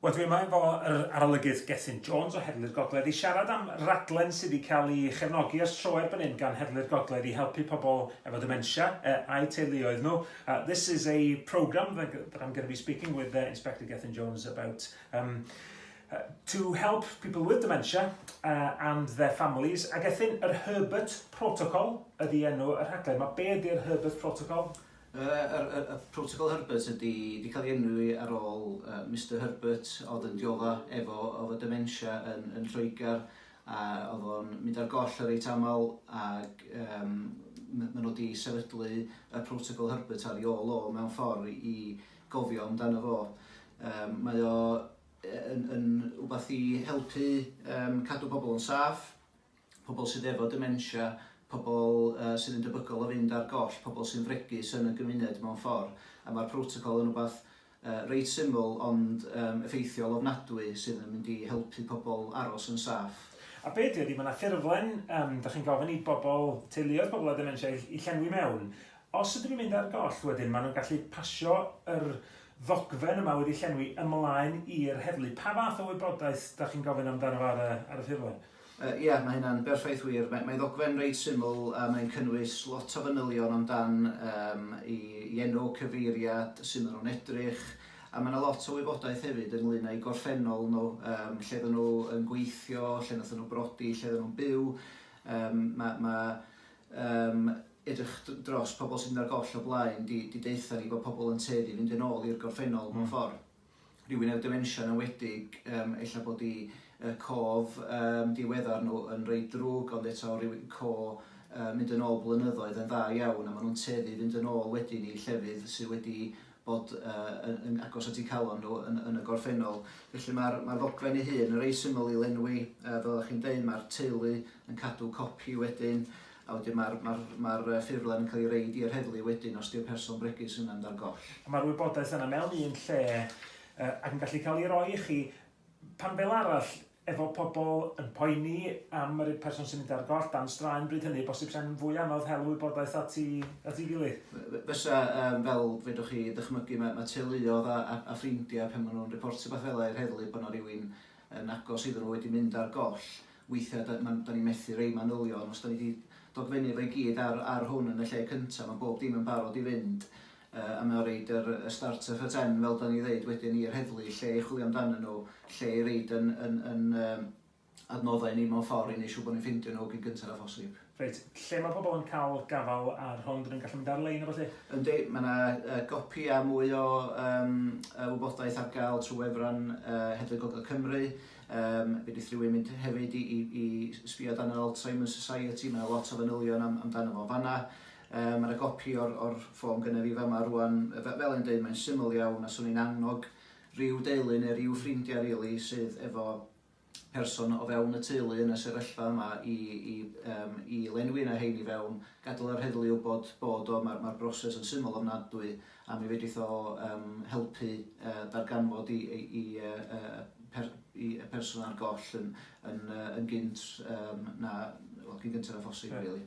Wel dwi yma efo yr Arolygydd Gethin Jones o Heddlu'r Gogledd i siarad am raglen sydd wedi cael ei chefnogi ers tro erbyn hyn gan Heddlu'r Gogledd i helpu pobl efo dementia a'u teuluoedd nhw. Uh, this is a programme that, that I'm going to be speaking with uh, Inspector Gethin Jones about um, uh, to help people with dementia uh, and their families. A Gethin, yr Herbert Protocol ydy enw y rhaglen. Mae be ydy'r Herbert Protocol? Y Protocol Herbert ydi 'di cael ei enwi ar ôl Mister Herbert oedd yn diodda' efo efo dementia yn yn Lloegr a oedd o'n mynd ar goll y' reit aml ag yym m- ma' nhw 'di sefydlu y Protocol Herbert ar ei ôl o mewn ffor' i gofio amdano fo. Yym mae o yn yn wbath i helpu yym cadw pobl yn saff. pobl sydd efo dementia, pobl yy sydd yn debygol o fynd ar goll, pobl sy'n fregus yn y gymuned mewn ffor', a ma'r protocol yn wbath yy reit syml ond yym effeithiol ofnadwy sydd yn mynd i helpu pobl aros yn saff. A be' ydi o, ma' 'na ffurflen yym 'dach chi'n gofyn i bobl, teuluoedd pobl â dementia i i llenwi mewn, os ydyn nhw'n mynd ar goll wedyn ma' nhw'n gallu pasio yr ddogfen yma wedi llenwi ymlaen i'r heddlu. Pa fath o wybodaeth 'dach chi'n gofyn amdano fo ar y ar y ffurflen? Yy ia, mae hynna'n berffaith wir. Mae, mae ddogfen reit syml a mae'n cynnwys lot o fanylion amdan um, i, i enw, cyfeiriad, sy'n maen nhw'n edrych, a mae yna lot o wybodaeth hefyd ynglyn â'i gorffennol nhw, um, lle ddyn nhw yn gweithio, lle nath nhw brodi, lle ddyn nhw'n byw. Um, mae, ma, um, edrych dros pobl sy'n mynd ar goll o blaen, di, di deitha ni bod pobl yn teddu fynd yn ôl i'r gorffennol mewn hmm. ffordd. rhywun efo dementia yn enwedig yym ella bod i y cof um, diweddar nhw yn reit drwg ond eto rhyw co uh, mynd yn ôl blynyddoedd yn dda iawn a maen nhw'n teddu fynd yn ôl wedyn i llefydd sydd wedi bod uh, yn, yn agos at eu calon nhw yn, yn y gorffennol. Felly mae'r mae ddogfen ei hun yn rei syml i lenwi, uh, fel ydych chi'n dweud, mae'r teulu yn cadw copi wedyn, A wedyn mae'r mae'r mae'r yy ffurflen yn cael ei roid i'r heddlu wedyn os 'di'r person bregus yna yn dal goll. A mae'r wybodaeth yna mewn un lle yy ac yn gallu cael ei roi i chi pan fel arall efo pobl yn poeni am yr person sy'n mynd ar goll dan straen bryd hynny bosib sa'n fwy anodd hel y wybodaeth at i at i gilydd. F- fysa yym fel fedrwch chi ddychmygu ma' ma' teuluodd a a a ffrindia pan ma' nhw'n reportio wbath fela i'r heddlu bod 'na rywun yn agos iddyn nhw wedi mynd ar goll, weithiau da, ma, da ni'n methu rhoi manylion, os da ni wedi dogfennu fo i gyd ar, ar hwn yn y lle cyntaf, mae bob dim yn barod i fynd, uh, a mae o reid yr, y starter for ten, fel da ni ddeud wedyn i'r heddlu, lle i chwilio amdanyn nhw, lle i reid yn, yn, yn, yn um, adnoddau ni mewn ffordd i wneud siŵr bod ni'n ffeindio nhw gyn gyntaf a phosib. Reit, lle mae pobl yn cael gafael ar hon? Dyn nhw'n gallu mynd ar-lein a falle? Yndi, mae yna uh, gopi a mwy o um, uh, wybodaeth ar gael trwy wefran uh, Heddlu Gogledd Cymru. Um, fe wnaeth rhywun mynd hefyd i, i, i sbio dan yr Alzheimer's Society, mae yna lot o fanylion am, amdano fo fanna. Um, mae yna gopi o'r, or ffôn gyda fi fama rwan, fel yn dweud mae'n syml iawn a swn i'n annog rhyw deulu neu rhyw ffrindiau really, sydd efo person o fewn y teulu yn y sefyllfa yma i, i, um, i lenwi na hein i fewn, gadael yr heddlu wybod bod o, mae'r ma broses yn syml ofnadwy a mi fedrith o um, helpu uh, darganfod i, i, i, uh, per, i person ar goll yn, yn, uh, yn gynt um, na, well, gyn gyntaf a phosib, okay. really.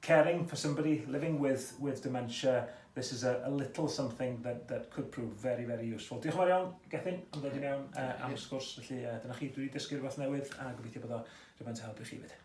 Caring for somebody, living with, with dementia, this is a, a little something that, that could prove very, very useful. Diolch yn fawr iawn, Gethin, am ddod yn iawn uh, am y sgwrs. Felly, uh, dyna chi, dwi wedi dysgu rhywbeth newydd a gobeithio bod o rhywbeth yn helpu chi wedyn.